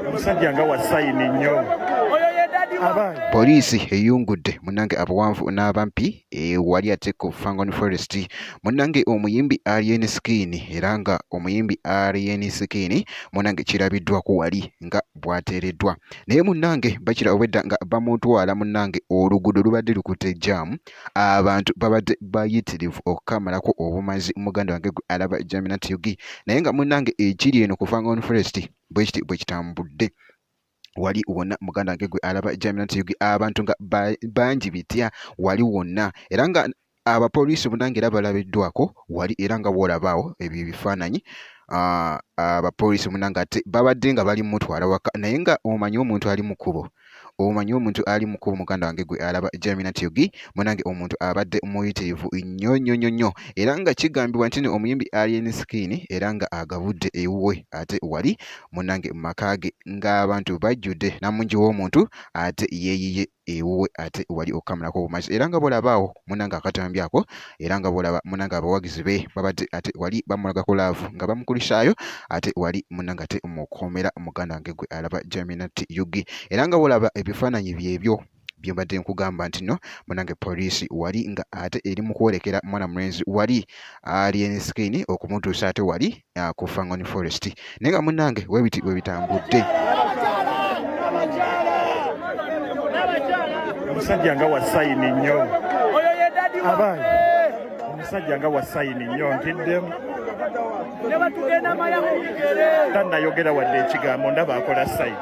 omusajja nga wasayini nnyo Poliisi eyungudde munnange abawanvu n'abampi eh, wali ate ku Fangon Forest munnange omuyimbi Alien Skin era nga omuyimbi Alien Skin munnange kirabiddwa ku wali nga bwateereddwa naye munnange bakira obwedda nga bamutwala munnange oluguudo lubadde lukute jaamu abantu babadde bayitirivu okukamalako obumazi muganda wange gwe alaba jaminat ug naye nga munnange ekiri eno ku fangon forest bwekiti bwe kitambudde wali wonna muganda wange gwe alaba jaminat ug abantu nga bangi bitya wali wonna era nga Abapoliisi munange era balabiddwako wali era nga bw'olaba awo ebyo ebifaananyi ah, abapoliisi munange ate babadde nga bali mutwala waka naye nga omanyi omuntu ali mu kkubo omanyi omuntu ali mu kkubo muganda wange gwe alaba Jamina Tiogi munange omuntu abadde muyitirivu nnyo nnyo nnyo nnyo era nga kigambibwa nti no omuyimbi Alien Skin era nga agabudde ewuwe ate wali munange mu maka ge ng'abantu bajjudde namungi w'omuntu ate yeeyiye ewuwe ate wali okukamulako obumazi era nga bwolaba awo munange akatambi ako era nga bwolaba munange abawagizi be babadde ate wali bamulagako laavu nga bamukulisaayo ate wali munange ate mukuumira muganda wange gwe alaba jaminati yugi era nga bwolaba ebifaananyi byebyo byembadde nkugamba nti no munange poliisi wali nga ate eri mukwolekera mwana mulenzi wali alien skin okumutuusa ate wali ah, ku Fangoni Forest naye nga munnange webiti bwe bitambudde omusajja nga wasayini nnyo abaana omusajja nga wasayini nnyo ntiddemu tanayogera wadde ekigambo ndaba akola sayini